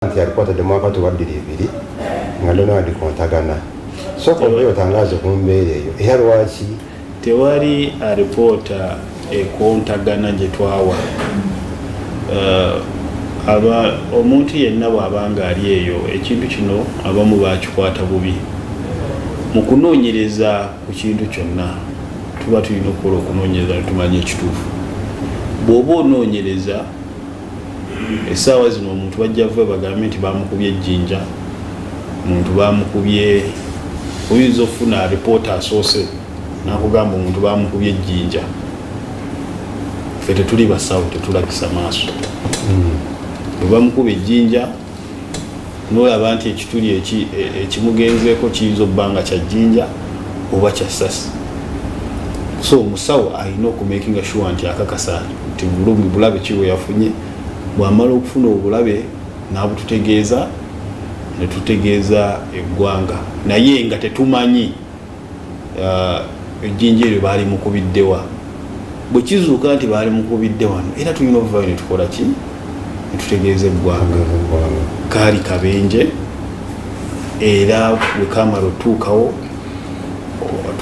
nti yalikuwa tadde mwaka tuba bbiri ebiri nga ndono adi kontagana soka obeyo otangaze ku mbeera eyo era lwaki tewali alipoota ekontagana gye twawa eh, aba omuntu yenna bw'aba nga ali eyo ekintu kino abamu bakikwata bubi mu kunoonyereza ku kintu kyonna tuba tulina okukola okunoonyereza netumanya ekituufu bw'oba onoonyereza essaawa zino omuntu bajja vuba bagambe nti bamukubye ejjinja omuntu bamukubye oyinza okufuna alipoota asoose nakugamba omuntu bamukubye ejjinja fe tetuli basawo tetulabisa maaso hmm. webamukuba ejjinja nolaba nti ekituli e, ekimugenzeeko kiyinza okuba nga kya jjinja oba kya sasi so omusawo alina okumakinga sure nti akakasa nti bulumi bulabe kiwe yafunye bwamala okufuna obulabe nabututegeeza netutegeeza eggwanga naye nga tetumanyi uh, ejjinja eryo baali mukubiddewa bwe kizuuka nti baali mukubidde wano era tulina obuvayo ne tukola ki ne tutegeeza eggwanga kaali kabenje era bwe kamala otuukawo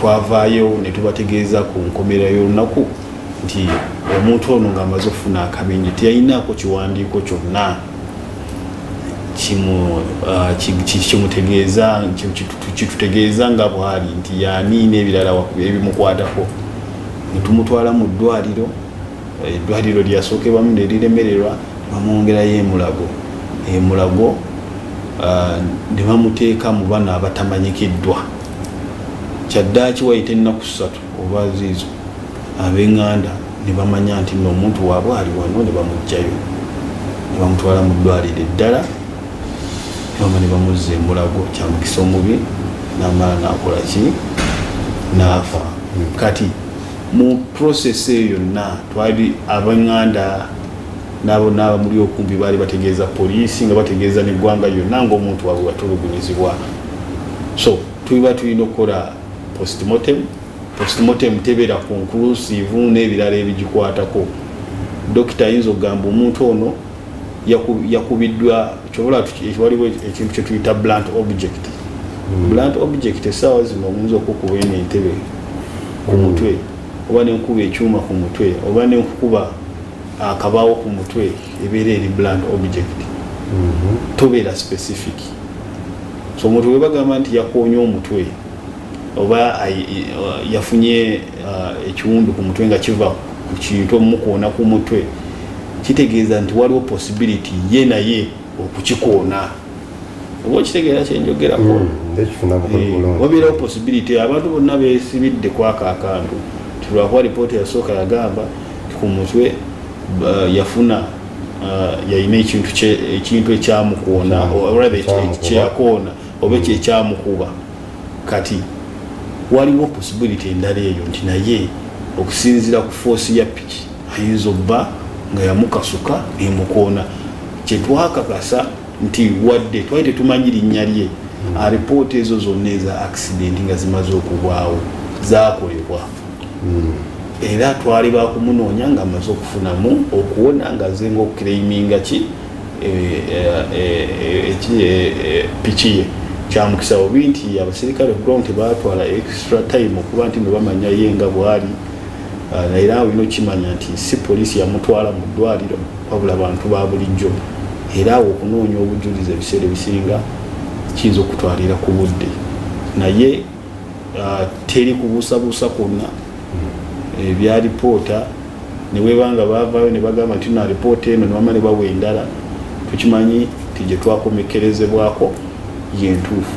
twavaayo ne tubategeeza ku nkomera y'olunaku nti omuntu ono ng'amaze okufuna akabenje teyalinaako kiwandiiko kyonna kimutegeeza kitutegeeza nga bwali nti yani n'ebirala ebimukwatako netumutwala mu ddwaliro eddwaliro lyasookebamu neriremererwa bamwongerayo emulago emulago ah, ne bamuteeka mu bano abatamanyikiddwa kyaddaaki wayita ennaku ssatu olwaziizo ab'enganda ne bamanya nti nno omuntu waabwe ali wano ne bamuggyayo ne bamutwala mu ddwaliro eddala maama ne bamuzza emulago kyamukisa omubi namala nakola ki naafa kati mu process eyo yonna twali abanganda nabo nabamuli okumpi baali bategeeza poliisi nga bategeeza neggwanga yonna ngaomuntu wabwe watulugunyizibwa so tuliba tulina okukola postmortem postmortem tebeera conclusive n'ebirala ebigikwatako dokita ayinza okugamba omuntu ono yakubiddwa kyobola waliwo ekintu kyetuyita blunt object hmm. blunt object esaawa zino omuntu okukuba eno entebe ku mutwe oba nenkuba ekyuma ku mutwe oba nenkukuba akabawo ku mutwe ebeera eri bland object mhm. tobeera specific so omuntu webagamba nti yakoonye omutwe oba yafunye uh, ekiwundu ku mutwe nga kiva ku kintu omukoona ku mutwe kitegeeza nti waliwo possibility ye naye okukikoona oba okitegeera kyenjogerako hmm, eh, wabeerawo possibility abantu bonna besibidde kwaka akantu tilwakuba lipooti yasooka yagamba ku mutwe yafuna uh, yalina ekintu ekyamukoona kyeyakoona oba ekyo hmm. ekyamukuba kati waliwo possibility endala eyo nti naye okusinzira ku foosi ya piki ayinza obba nga yamukasuka emukoona kyetwakakasa nti wadde twali tetumanyi linnya lye hmm. alipoota ezo zonna eza accident nga zimaze okubwawo zakolebwa hmm. era twali bakumunoonya nga amaze okufunamu okuwona nga azenga okukireiminga ki e, e, e, piki ye kyamukisa bubi nti abaserikale ground tebatwala extra time okuba nti nebamanya ye nga bwali Ah, naye era olina okukimanya nti si poliisi yamutwala mu ddwaliro wabula bantu ba bulijjo era awo okunoonya obujulizi ebiseera ebisinga kiyinza okutwalira ku budde naye ah, teri kubuusabuusa kwonna hmm. ebya lipoota neweba nga bavaayo ne bagamba nti na lipoota eno newama ne bawa endala tukimanyi nti gye twakomekerezebwako yentuufu